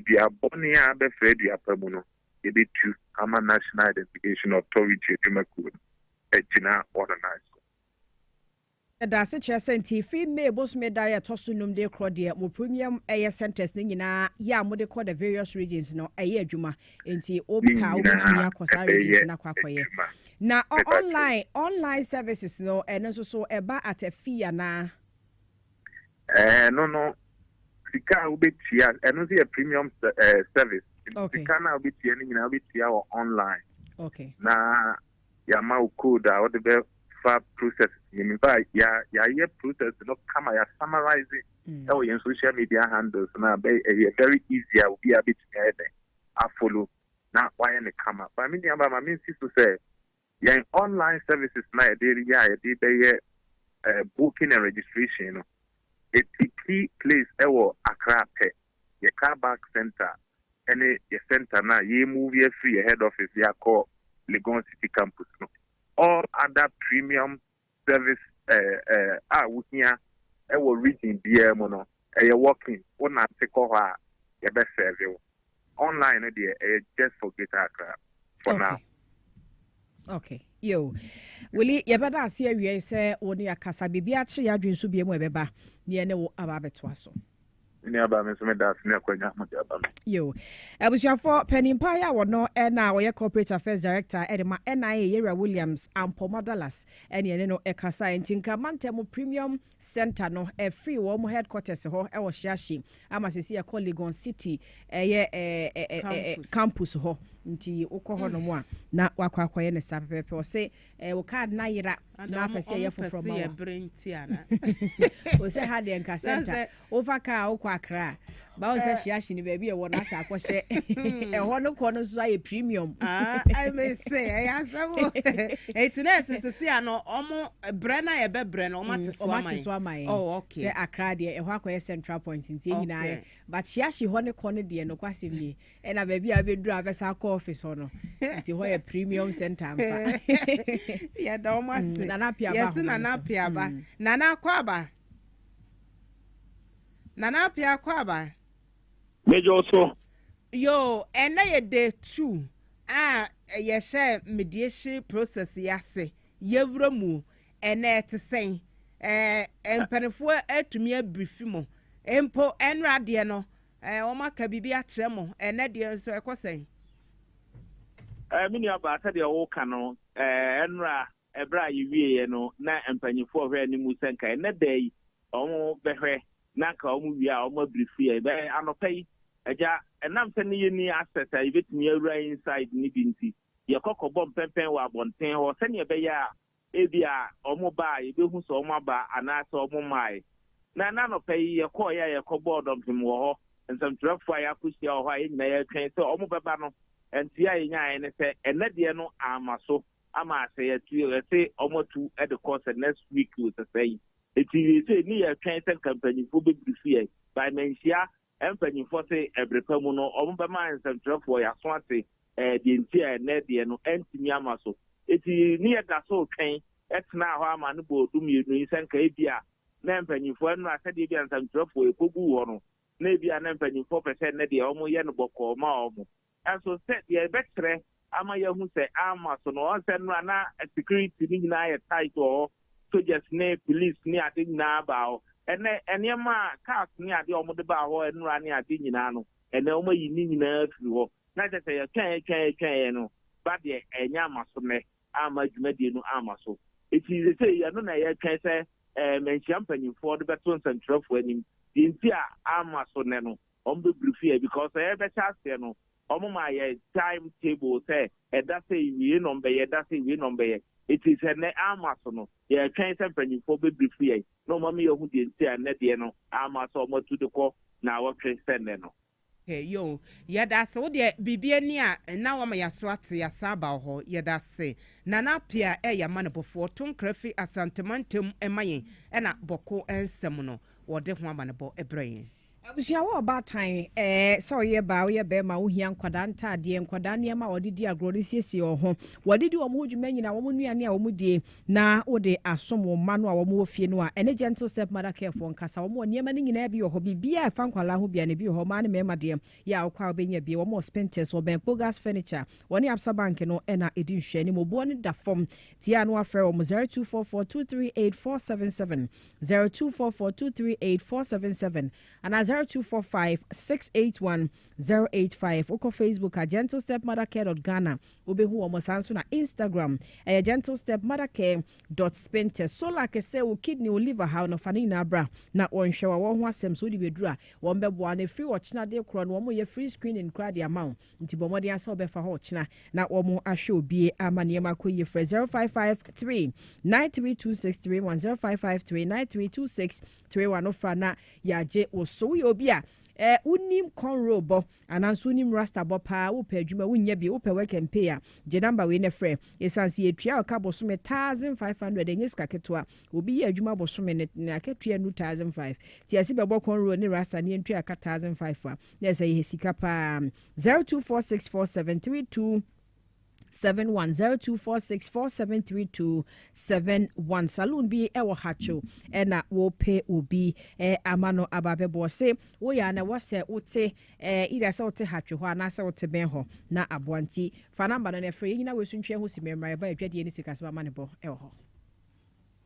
dua bɔne a abɛfra dua pa mu no, yɛbɛtu ama National Identification Authority adwumakuo no agyina wɔn nan so. Yɛda ase kyerɛ sɛ nti fi May bosome da a ɛtɔ so nnum de rekorɔ deɛ mo premium ɛyɛ centres no nyinaa yɛ a mode kɔ the various regions no ɛyɛ adwuma. Nti wo Ne pɛ a nyinaa wobɛtumi akɔ saa ɛbɛyɛ regions no akɔ akɔyɛ. adwuma. Na ɔ Mepakyɛw. online online services no ɛno nso so ɛba at a fee anaa? Ɛɛ ɛno no sika a wobɛtua ɛno nso yɛ premium sɛ ɛɛ service. Nti Okay. sika no a wobɛtua no nyinaa wobɛtua wɔ online. Okay. Na yɛama wo code a wode bɛ fa process no mu. Ba ya yɛayɛ process no kama ya summarize mm. ɛwɔ yɛn social media handles no a bɛ ɛyɛ very easy a obi a bɛtumi ayɛ dɛn afolo na wayɛ ne kama. Ba me nua ba ma mensi so sɛ yɛn online services na yɛde yɛ a yɛde bɛyɛ uh, booking and registration no ɛti key place ɛwɔ Accra pɛ. yɛ car back centre ne yɛ centre no a yɛremuvi afiri yɛ head office de akɔ Legon City Campus no. All other premium service a wohia wɔ region biara mu no, ɛyɛ walk-in, wonante kɔ hɔ a yɛbɛsɛɛve wo. Online no deɛ, ɛyɛ just for Greater Accra for now. Okay. Yo. Willie, yɛbɛda ase awiei sɛ wo ne akasa biribi akyere adwene so bia mu ɛbɛba ne ɛne wo aba abɛtoa so. Ne aba me nso meda ase ne akwanya mo de aba me. Yo. Abusuafoɔ panimpa yɛ a wɔno ɛna ɔyɛ corporate affairs director ɛde ma NIA Yɛwura Williams Ampoma Dallas ɛne ɛne no ɛkasa nti Nkraman Ntamu Premium Center no ɛfiri wɔn headquarters hɔ ɛwɔ Hyeahye Ama sɛsi ɛkɔ Legon City ɛyɛ ɛɛ campus hɔ nti wokɔ hɔ nom a na wakɔ akɔyɛ ne saa pɛpɛpɛ ɔsɛ ɛɛ wo card na yera na apɛ sɛ ɛyɛ foforɔ ma wa ɔsɛ ha deɛ nka center wofa kaa wokɔ akra a bawo sɛ hyeahye ne baabi ɛwɔ no asɛ akɔhyɛ ɛhɔ no kɔ no nso ayɛ premium ɛmɛ sɛ ɛyɛ asɛm ɛti na ɛsɛ sisi ano ɔmo Brɛ no a yɛbɛbrɛ no, wɔate so ama yɛn? Wɔate so ama yɛn. Oh, okay. Sɛ Accra deɛ, ɛhɔ akɔyɛ central point nti yɛn nyinaa yɛ. But Shiashi hɔ ne kɔ no deɛ, nokwasɛm nie, ɛna baabi a wobɛduru a wobɛsan akɔ office hɔ no. Nti hɔ yɛ premium center ampa. Yɛda wɔn ase. Mm, Nana Apiaba ahoma no so. Yɛse Nana Apiaba. Mm. Nana akɔ aba. Nana Apia akɔ aba. Mejọ so. Yo, ɛnna yɛ day two a yɛhyɛ mediation process yi ase. Yɛwura mu ɛnnɛ ɛte sɛn? Ɛɛ, mpaninfoɔ atumi abiri fi mo. Mpo ɛnora deɛ no, ɛɛ, wɔn aka biribi akyerɛ mo. Ɛnnɛ deɛ nso ɛkɔ sɛn? Ɛɛ, me nua baa, sɛdeɛ woka no, ɛɛ, ɛnora, ɛberɛ a yɛwieɛ no, na mpaninfoɔ hwɛ anim sɛ nka ɛnnɛ da yi wɔn bɛhwɛ na nka wɔn wie a wɔn abiri fi yɛn. Bɛɛ anɔpa yi, Agya, ɛnam sɛ ne yɛnni access a yɛbɛtumi awura inside no bi nti, yɛkɔ kɔbɔ mpɛmpɛn wɔ abɔnten hɔ sɛnea ɛbɛyɛ a ebia wɔba a yebehu sɛ wɔaba anaasɛ wɔmmae. Na ɛnnɛ anɔpa yi yɛkɔe a yɛkɔbɔɔ dɔmpem wɔ hɔ. Nsɛmtwerɛfo a yɛakohyia wɔ hɔ a yɛn nyinaa yɛretwɛn sɛ wɔbɛba no, nteɛ a yenyae ne sɛ ɛnnɛ deɛ no amma so ama sɛ yɛatu yɛse wɔatu de kɔ sɛ next week osesɛe. Enti seesei ne yɛretwɛn sɛ nka mpanyimfo bebrifo yɛn, by manhyia Ɛn mpanyimfoɔ se ɛbere pa mu no wɔn bɛma nsɛmtwerɛfoɔ y'aso ate ɛɛ deɛ nti a ɛnnɛ deɛ no ɛntumi ama so. Enti ne yɛ da so retwɛn tenaa hɔ ama ne bɔɔ du mmienu yi sɛ nka ebi a na ɛn mpanyimfoɔ ɛnora sɛdeɛ ebi a nsɛmtwerɛfoɔ ɛkɔ guu hɔ no na ebi a na mpanyimfoɔ pɛ sɛ ɛnnɛ deɛ wɔn yɛ no bɔkɔɔ ma wɔn. Nanso sɛ deɛ ɛbɛkyerɛ ama yɛahu sɛ amma so no, ɔn sɛ nnora na security no nyinaa yɛ tight wɔ hɔ, soldiers ne police ne ade nyinaa baa hɔ. Ɛnnɛ nneɛma a, cars ne adeɛ a wɔde baa hɔ nnora ne ade nyinaa no, ɛnnɛ wɔayi ne nyinaa afiri hɔ. Na kyerɛ sɛ yɛtwɛnee twɛnee twɛnee no ba deɛ ɛnyɛ amma so nnɛ, amma dwumadie no amma so. Enti seesei ɛno na yɛretwɛn sɛ ɛɛ manhyia mpanyimfoɔ de bɛto nsɛntwerɛfoɔ anim deɛ nti a amma so nnɛ no. wɔn bɛ biri fie because sɛ yɛ bɛ hyɛ aseɛ no wɔn maa yɛ time table sɛ ɛda sɛ yi wei na wɔn bɛ yɛ ɛda sɛ yi wei na wɔn bɛ yɛ eti sɛ nɛ ama so no yɛ twɛn sɛ mpanyinfoɔ bɛ biri fie yɛ na wɔn ama yɛ hu deɛ nti a nɛ deɛ no ama sɛ wɔn atu de kɔ na awɔtwe sɛ nɛ no. Hwɛ yɛ o yɛda ase wo deɛ biribi ani a na wama yɛ aso ate yɛ asan aba wo hɔ yɛda ase Nana Appiah ɛ yɛ amanebɔfoɔ to nkra firi Asante mantam ma yɛn ɛna bɔko nsɛm no wɔde ho amanebɔ brɛ yɛn. Abusua wɔ ɔbaatan ɛɛ, sɛ ɔyɛ baa ɔyɛ bɛɛma wohia nkwadaa ntaadeɛ, nkwadaa nneɛma a wɔde di agorɔ de siesie wɔn ho, wɔde di wɔn ho dwuma nyina, wɔn nnuane a wɔn die na wode asom wo mma no a wɔn wɔ fie no a ɛne Gentle Step Mother Care foɔ nkasa, wɔn wɔ nneɛma no nyinaa bi wɔ hɔ, biribiara ɛfa nkwadaa ho biara no ebi wɔ hɔ, mmaa ne mmarima deɛ yɛ a wokɔ a wobɛnya bie, wɔn wɔ Spintex, wɔ Bɛn Kpogas Furniture, wɔne Absa Bank no ɛna ɛdi nhwɛanim, oboɔ no da fam, tie a na wafrɛ wɔn 0244 238 477. Zero two four four two three eight four seven seven ana zero two four five six eight one zero eight five. Wokɔ Facebook a Gentle Step Mother Care dot Ghana wobehu wɔn saa nso na Instagram ɛyɛ Gentle Step Mother Care dot Spinte. Solar kɛse wo kidney wo liver haw no fa ne nyinaa bra na wɔnhwɛ wɔ wɔn ho asɛm so wode bɛduru a wɔn bɛboa na efiri ɔkyena de korɔ no wɔn yɛ free screening koraa de ama wo. Nti bɔ mmɔden ara sɛ wobɛfa hɔ ɔkyena na wɔahwɛ obi ama nneɛma akɔ yie. Frɛ 0553 9326 31 0553 9326 31 no fra na yɛagye wo so. Woyɛ obi a eh, wonim conroll bɔ ananso wonim rasta bɔ paa wopɛ adwuma wonnya bi wopɛ work and pay a gye number wei na frɛ ɛsiane sɛ yɛtua ɔka bosome 1500 ɛnyɛ sika ketewa obi yɛ adwuma bosome ne akatua nu 1005 nti ɛse bɛbɔ conroll ne rasta ne yɛntua ka 1005 a Yes ɛyɛ sika paa. Zero two four six four seven three two seven one zero two four six four seven three two seven one saloon bi ɛwɔ hatcho ɛna wɔpɛ obi ɛ ama no aba bɛbɔ se woyɛ ana wɔsɛ wote ɛ ida sɛ wote hatcho hɔ anaasɛ wote bɛn hɔ na aboa nti fa namba no na ɛfrɛ yɛn nyina wɔasuntwɛ ho si mɛmra ɛba adwadie ne sikasɛm ama ne bɔ ɛwɔ hɔ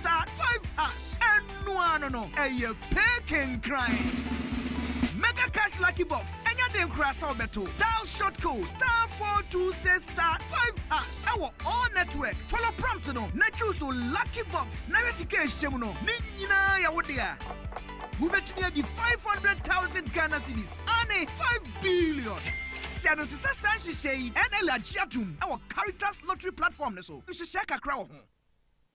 star five hash ɛno ara no no ɛyɛ pay kenkran mega cash lucky box ɛnyɛ den koraa sɛ wobɛto dial short code star four two six star five hash ɛwɔ all network follow prompt no na choose o lucky box na hwɛ sika ɛhyɛ mu no ne nyinaa yɛ wo dea wobɛtumi adi five hundred thousand ghana cedis ane five billion hyɛ no nso sɛ saa nhyehyɛ yi ɛna ɛlɛ agye atom ɛwɔ caritas lottery platform no so nhyehyɛ kakra wɔ ho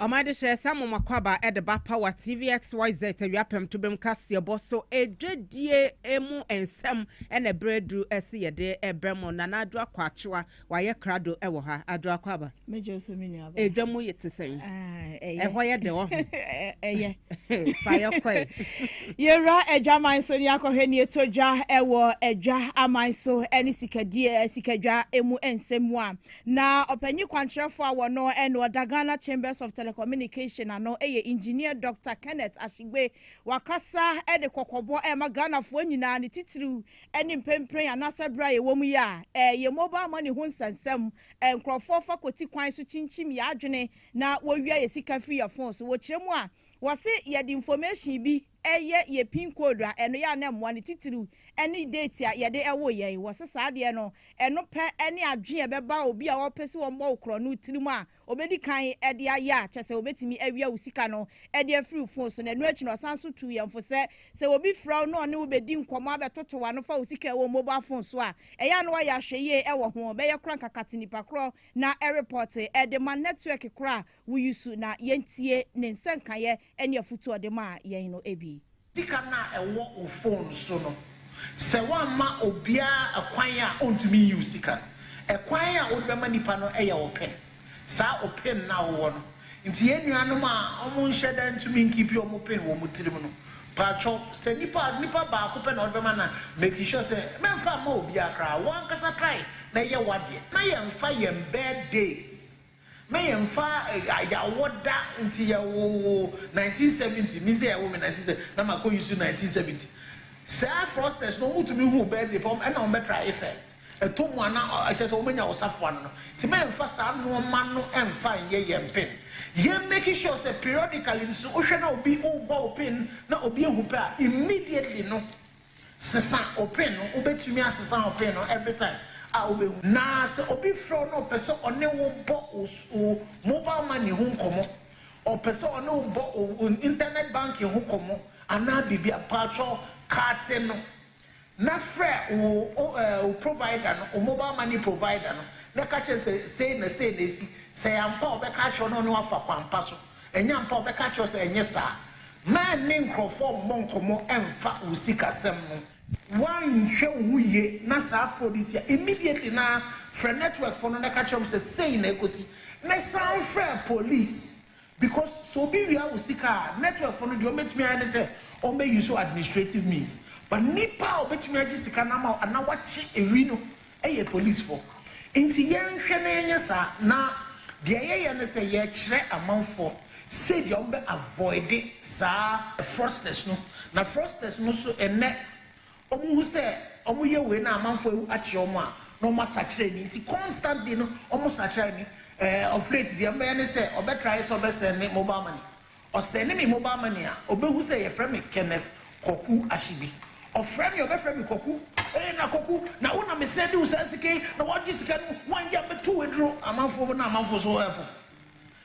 Ɔma ɛde hyɛɛ saa momakwaaba a ɛde ba Power TV XYZ awia pɛmtobem kaseɛbɔ so dwadie mu nsɛm na berɛ aduru se yɛde brɛ mo. Nana Adwo Akwaakyewa wayɛ krado wɔ ha. Adwo Akwaaba, Mɛgye wo so me nuaba. edwa mu te sɛn? Ah, ɛyɛ. Ɛhɔ yɛ dɛ wɔ ho. Ɛ- Ɛyɛ. Fa yɛ kɔe. Yɛwura adwaman so ne yɛakɔhwɛ ne ɛtɔ dwa wɔ adwa aman so ne sikadie sikadwa mu nsɛm mu a Na ɔpanyin kwankyerɛfo a wɔno ɛne ɔda Ghana Chambers of Telecommunication ano ɛyɛ Engineer Doctor Kenneth Ashigbe. Wakasa ɛde kɔkɔbɔ ɛrema Ghanafoɔ nyinaa ne titiriw ɛne mprenpren anaasɛ bere a yɛwɔ mu yi a ɛyɛ mobile money ho nsɛnsɛm. Nkorɔfoɔ fa kɔti kwan so kyinkyim yɛ adwene na wɔwia yɛ sika firi yɛ phone so. Wɔ kyerɛ mu a, wɔse yɛde information bi. ɛyɛ yɛ pin code a, ɛno yɛ a na ɛmmoa. Ne titiriw ne date a yɛde woo yɛn. Wɔse saa adeɛ no, ɛno pɛ ne adwene a ɛbɛba obi a ɔpɛ sɛ wɔbɔ wo korɔno tirim a ɔbɛdi kan de ayɛ a kyerɛ sɛ wɔbɛtumi awia wo sika no de afiri wo fon so. Na ɛno akyi no, ɔsan nso tuu yɛn fo sɛ, sɛ obi frɛ wo na ɔne wo bɛdi nkɔmmɔ abɛtoto w'ano fa wo sika a ɛwɔ wo mobile fon so a, ɛyɛ a na wayɛ ahwɛyie wɔ ho. Bɛyɛ koraa nkakate nnipa korɔ na ɛrepɔɔte de ma network korɔ a Wo yi su na yɛntie ne nsɛnkaeɛ ne afutuo ɔde maa yɛn no bi. Sika no a ɛwɔ wo phone so no, sɛ woamma obiara kwan a ɔntumi nyiw sika no, ɛkwan a wode bɛma nipa no yɛ wo pin. Saa wo pin no a wowɔ no nti yɛn nuanom a wɔnhyɛ da ntumi nkiipi wɔn pin wɔ wɔn tirim no, paatwɔ sɛ nipa a nipa baako pɛ na wode bɛma na make sure sɛ mɛmfa mma obiara koraa, wo ankasa try na yɛ w'adeɛ na yɛmfa yɛn birthdays Me yɛnfa yɛawɔ da nti yɛwoo wo nineteen seventy me nso yɛwo me nineteen seventy na makɔ Yesu nineteen seventy saa fraudsters no wɔn tumi hu wo birthday pɛ ɛna wɔn bɛ try e first ɛtɔ mu a na ɛkyɛ sɛ wɔn nya wo safoa no no nti mɛ nfa saa nnoɔma no nfa nyɛ yɛn pin yɛ make sure sɛ periodically nso wohwɛ na obi rebɔ wo pin na obi ahu pɛ a immediately no Sesa wo pin no, Wobɛtumi asesa wo pin no every time a wobɛhu. Na sɛ obi frɛ wo na ɔpɛ sɛ ɔne wo bɔ wo wo mobile money ho nkɔmmɔ, ɔpɛ sɛ ɔne wo bɔ wo wo internet banking ho kɔmmɔ anaa biribi a, paatwɔ kate no na frɛ wo wo eh, wo provider no, wo mobile money provider no na ka kyerɛ no sɛ sei na sei na ɛsi. Sɛ ɛyɛ ampa a, ɔbɛka akyerɛ wo na ɔne wo afa kwan pa so. Ɛnyɛ ampa? Ɔbɛka akyerɛ wo sɛ ɛnyɛ saa. Mma ɛnne nkurɔfoɔ mmɔ nkɔmmɔ mfa wo sikasɛm no. Woanhwɛ wo ho yie na saa phone yi si a, immediately no ara frɛ network foɔ no na ka kyerɛ wɔn sɛ sei na ɛkɔsi. Ne san frɛ police because sɛ obi wia wo sika a, network foɔ no deɛ wɔbɛtumi ayɛ ne sɛ wɔbɛ use administrative means but nipa a ɔbɛtumi agye sika no ama wo anaa wakye ɛwi no, yɛ polisifo. Enti yɛnhwɛ na yɛnyɛ saa. Na deɛ yɛyɛ ne sɛ yɛkyerɛ amanfoɔ sɛdeɛ wɔbɛ avoid saa fraudsters no. Na fraudsters no nso ɛnnɛ wɔhu sɛ wɔyɛ wei na amanfoɔ awu akyerɛ wɔn a, na wɔn asakyera ani. Nti constantly no wɔsakyera ani. Ɛɛ ɔfrɛt deɛ wɔbɛyɛ ne sɛ wɔbɛ try sɛ wɔbɛ send mobile money. Ɔsɛ ne me mobile money a ɔbɛhu sɛ yɛfrɛ me Kenneth Kwaku Ahyebi. Ɔfrɛ me a ɔbɛfrɛ me Kwaku. Ee na Kwaku, na wo na me sɛɛde wo saa sika yi na woagye sika no woanyɛ a mɛto wo aduro. Amanfoɔ hɔ na amanfoɔ nso hɔ ɛpo.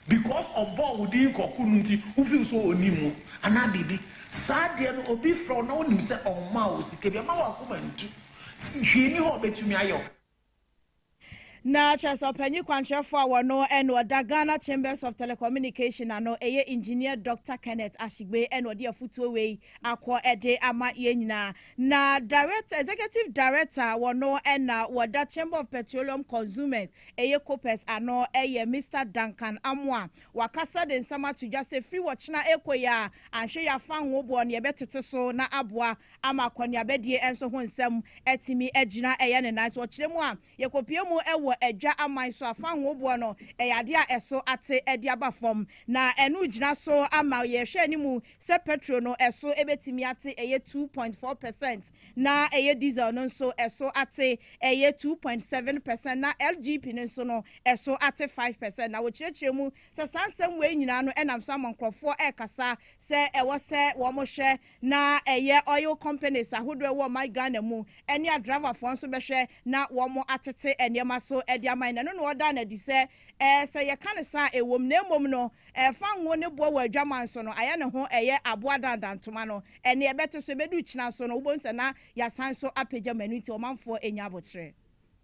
Because ɔbɔɔ wo din Kwaku no nti wo feel sɛ ɔnim wo anaa biribi. Saa adeɛ no obi frɛ wo na wonim sɛ ɔmmaa wo sika bi amma w'akoma ntu. Hwee nni hɔ a ɔbɛtumi ayɛ wo. Na kyerɛ sɛ ɔpanyin kwankyerɛfo a wɔno ɛna ɔda Ghana Chambers of Telecommunication ano ɛyɛ Engineer Doctor Kenneth Ashigbe ɛna ɔde afutuo wei akɔ ɛde ama yɛn nyinaa. Na Direct Executive Director wɔno ɛna wɔda Chamber of Petroleum Consumers ɛyɛ Copers ano ɛyɛ Mister Duncan Amoah. Wakasa de nsɛm ato dwa sɛ firi wɔkyena ɛrekɔ yi a anhwɛ yɛ afa nwoboɔ no yɛbɛtete so na aboa ama akɔneabadie nso ho nsɛm atumi agyina ɛyɛ ne nan so. Ɔkyerɛ mu a yɛkɔpue mu wɔ adwa aman so afa ahoboɔ no yɛ adeɛ a ɛso ate de aba fam, na ɛno gyina so ama yɛrehwɛ anim sɛ pɛtro no ɛso bɛtumi ate ɛyɛ two point four percent na ɛyɛ diesel no nso ɛso ate ɛyɛ two point seven percent na LGP no nso no ɛso ate five percent. Na wɔkyerɛkyerɛ mu sɛ saa nsɛm wei nyinaa no nam so ama nkorɔfoɔ rekasa sɛ ɛwɔ sɛ wɔhwɛ na ɛyɛ oil companies ahodoɔ ɛwɔ ɔman Ghana mu ɛne adriverfoɔ nso bɛhwɛ na wɔn atete nneɛma so de ama yɛn, ɛno na ɔdaa no adi sɛ ɛɛ sɛ yɛka no saa a ɛwɔ mu, na mmom no ɛfa ngo ne boɔ wɔ adwaman so no ayɛ ne ho ɛyɛ aboa dandan ntoma no ɛnne ɛbɛte so ɛbɛduru kyena so no wobɛhu sɛ na yɛasan nso apagya mu ɛno nti ɔmanfoɔ ɛnya aboterɛ.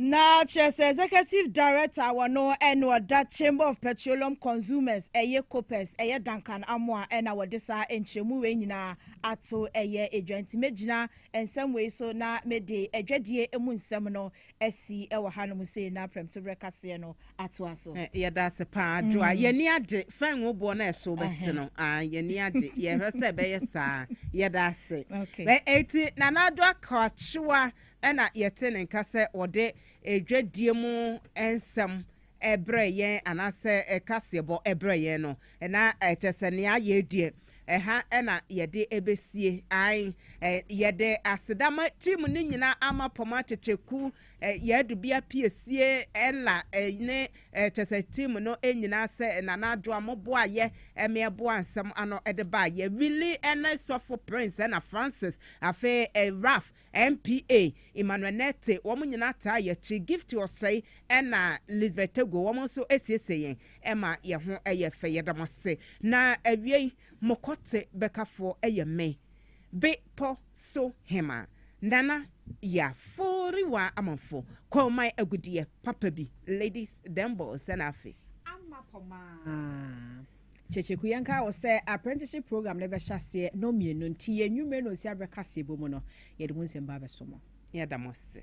na kyerɛ sɛ executive director wɔ no ɛna ɔda chamber of petroleum consumers ɛyɛ copers ɛyɛ duncan amoa ɛna wɔde saa nkyerɛmu wei nyinaa ato ɛyɛ adwa nti mɛgyina nsɛm wei so na mede adwadie mu nsɛm no asi ɛwɔ hanom sei na prɛmtoberɛ kaseɛ no atoa so. Yɛda ase paa Joa. Yɛn ani agye. Fɛn wo boɔ no a ɛso bɛte no. Ah, yɛn ani agye. Yɛhwɛ sɛ ɛbɛyɛ saa. Yɛda ase. Bɛ eti Nana Addo Akakyewa na yɛte ne nka sɛ ɔde dwadie mu nsɛm ɛbrɛ yɛn anaasɛ kaseɛbɔ ɛbrɛ yɛn no. Na ɛkyɛ sɛ nea ayɛ deɛ ɛha na yɛde ɛbɛsie. Ae, yɛde aseda ma team no nyinaa, Amapɔmma, Kyekyeku, Yɛadu bea piesie Ella ne kyɛsɛ team no nyinaa sɛ Nana Addo a mo boa yɛ me ɛboa nsɛm ano de baa yɛ Willy ne Sɔfo Prince ɛna Francis afei Raph MPA Emmanuel Nette wɔn nyinaa taa yɛ akyi Gifty Osei ɛna Lisbeth Tegoe wɔn nso siesie yɛn ɛma yɛ ho yɛ fɛ yɛda mo ase na awiei mo kɔte bɛkafoɔ yɛ me. Bepɔ so hema Nana Yaforiwa Amanfo Kwauman Agudeɛ papa bi Ladies Dembow Sɛ na afe. Ama pɔ maa. Kyekyeku yɛnkaa wo sɛ apprenticeship program no bɛhyɛ aseɛ nɔ mmienu nti yɛ nwummere na ɔsia berɛ kaseɛ bɔ mu no yɛde mu nsɛm ba abɛso mo. Yɛda mo ase.